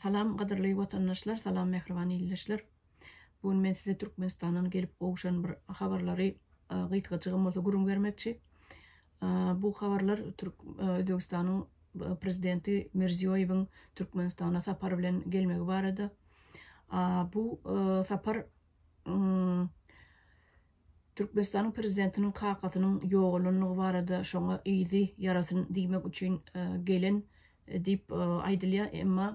Salam gadyrly watandaşlar salam mähriban ildeşler bu gün men size Türkmenistandan gelip gowuşan bir habarlary gysgajygam bolsa gürrüň bermekçi bu habarlar Türk Özbegistanyň prezidenti Mirziýoýewiň Türkmenistana sapary bilen gelmegi barada bu sapar Türkmenistanyň prezidentiniň kakasynyň ýogalanlygy barada şoňa yzy ýarasyn diýmek üçin gelen diýip aýdylýar, emma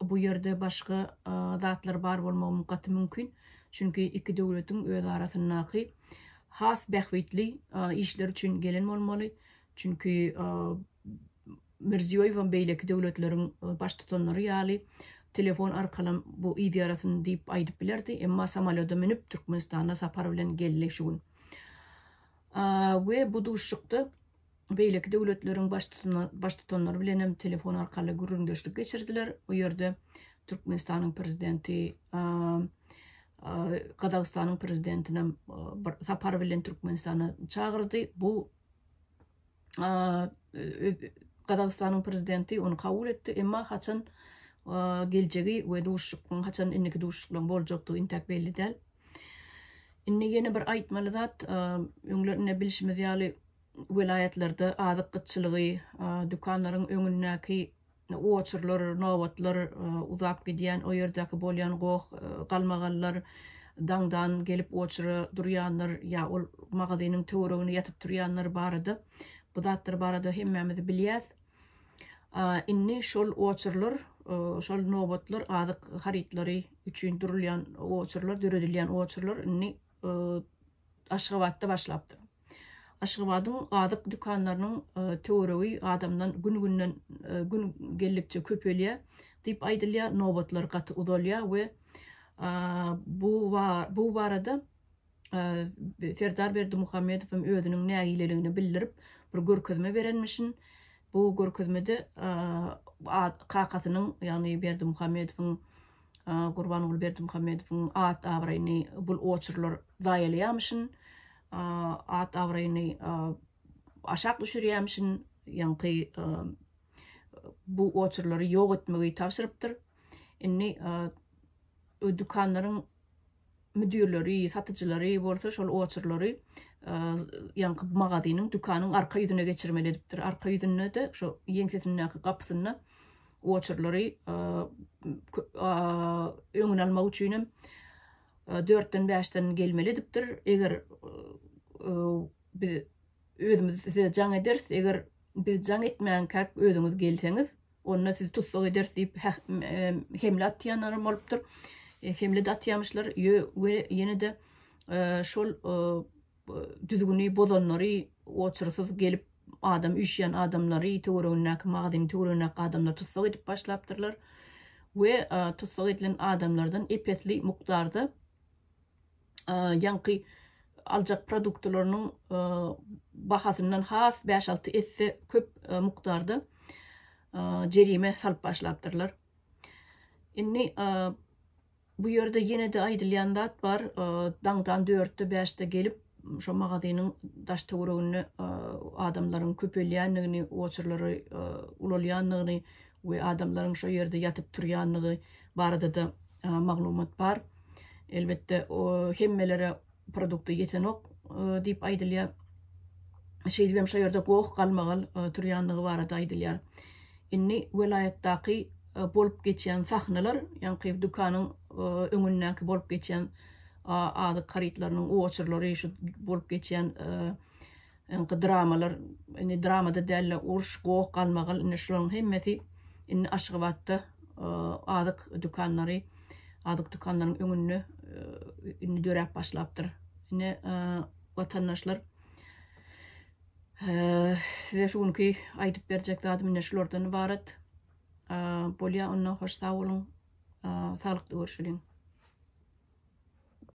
bu ýerde başga zatlar bar bolmagym gaty mümkin, çünki iki döwletiň özarasyndaky has bähbitli işler üçin gelen bolmaly, çünki Mirziýoýewem beýleki döwletleriň baştutanlary ýaly telefon arkalam bu yz ýarasyn diýip aýdyp bilerdi, emma samolýoda münüp Türkmenistana sapar bilen geldi şu gün. We bu duşuşykda beýleki döwletleriň baştutanlary bilenem telefon arkaly gürrüňdeşlik geçirdiler. Bu ýerde Türkmenistanyň prezidenti Gazagystanyň prezidentinem bir sapar bilen Türkmenistana çagyrdy. Bu Gazagystanyň prezidenti ony kabul etdi, emma haçan geljegi we duşuşygyň haçan indiki duşuşyklaryň boljakdygy intäk belli däl. Indi ýene bir aýtmaly zat, öňler ine bilşimiz ýaly welaýatlarda azyk gytçylygy, dükanlaryň öňündäki oçurlar, nobatlar uzap gidýän, o ýerdäki bolýan goh, galmagallar, daňdan gelip oçura durýanlar ýa ol magazynyň töweregine ýatyp turýanlar barada, bu zatlar barada hemmämiz bilýäs. Indi şol oçurlar, şol nobatlar azyk harytlary üçin durulýan oçurlar, döredilýän oçurlar indi e, Aşgabatda başlapdyr. Aşgabadyň azyk dükanlarynyň e, töweregi adamdan gün-günden e, gün geldikçe köpelýär diýip aýdylýar. Nobatlar gaty uzalýar we bu bu barada Serdar Berdimuhamedow hem özüniň nägileligini bildirip, bir görkezme berenmişin. Bu görkezmede kakasynyň, ýagny Berdimuhamedowyň Gurbanguly Berdimuhamedowyň at-abraýyny bul oçurlar zaýalaýamyşyn, at-abraýyny aşak düşürýämişin, ýaňky bu oçurlary ýok etmegi tabşyrypdyr. Indi dükanlaryň müdirleri, satyjylary bolsa şol oçurlary ýaňky magazynyň, dükanyň arka ýüzüne geçirmeli edipdir. Arka ýüzünde-de şu ýeňsesindäki gapysynda oçurlary öňüni almak üçin hem dörtden bäşden gelmeli edipdir. Eger biz özümiz size jaň ederis, eger biz jaň etmänkäk özüňiz gelseňiz, Onda sizi tussag ederis diýip, hemle atýanlaram bolupdyr. Hemle-de atýamyşlar we ýene-de şol düzgüni bozanlary, oçursyz gelip adam üýşýän adamlary, töweregindäki magazynyň töweregindäki adamlary tussag edip başlapdyrlar we tussag edilen adamlardan ep-esli mukdarda ýaňky aljak produktlarynyň bahasyndan has bäş-alty esse köp mukdarda jerime salyp başlapdyrlar. Indi bu ýerde ýene-de aýdylýan zat bar, daňdan dörtde, bäşde gelip, şo magazynyň daş-töwereginde adamlaryň köpelýändigini, oçurlary ulalýandygyny, we adamlaryň şo ýerde ýatyp turýandygy barada-da maglumat bar. Elbetde, hemmelere produkty ýetenok diýip aýdylýar. Şeýdip hem şo ýerde goh galmagal turýandygy barada aýdylýar. Indi welaýatdaky bolup geçýän sahnalar, ýaňky dükanyň öňündäki bolup geçýän azyk harytlarynyň oçurlary, şu bolup geçýän Öňki dramalar indi dramada dälde urş goh galmagal indi şularyň hemmesi indi Aşgabatda azyk dükanlary azyk dükanlaryň öňünde indi döräp başlapdyr. Ine watandaşlar size şu günki aýdyp berjek zadym indi şulardan ybarat. Bolýa onda hoş sag boluň. Saglyk görüşeliň.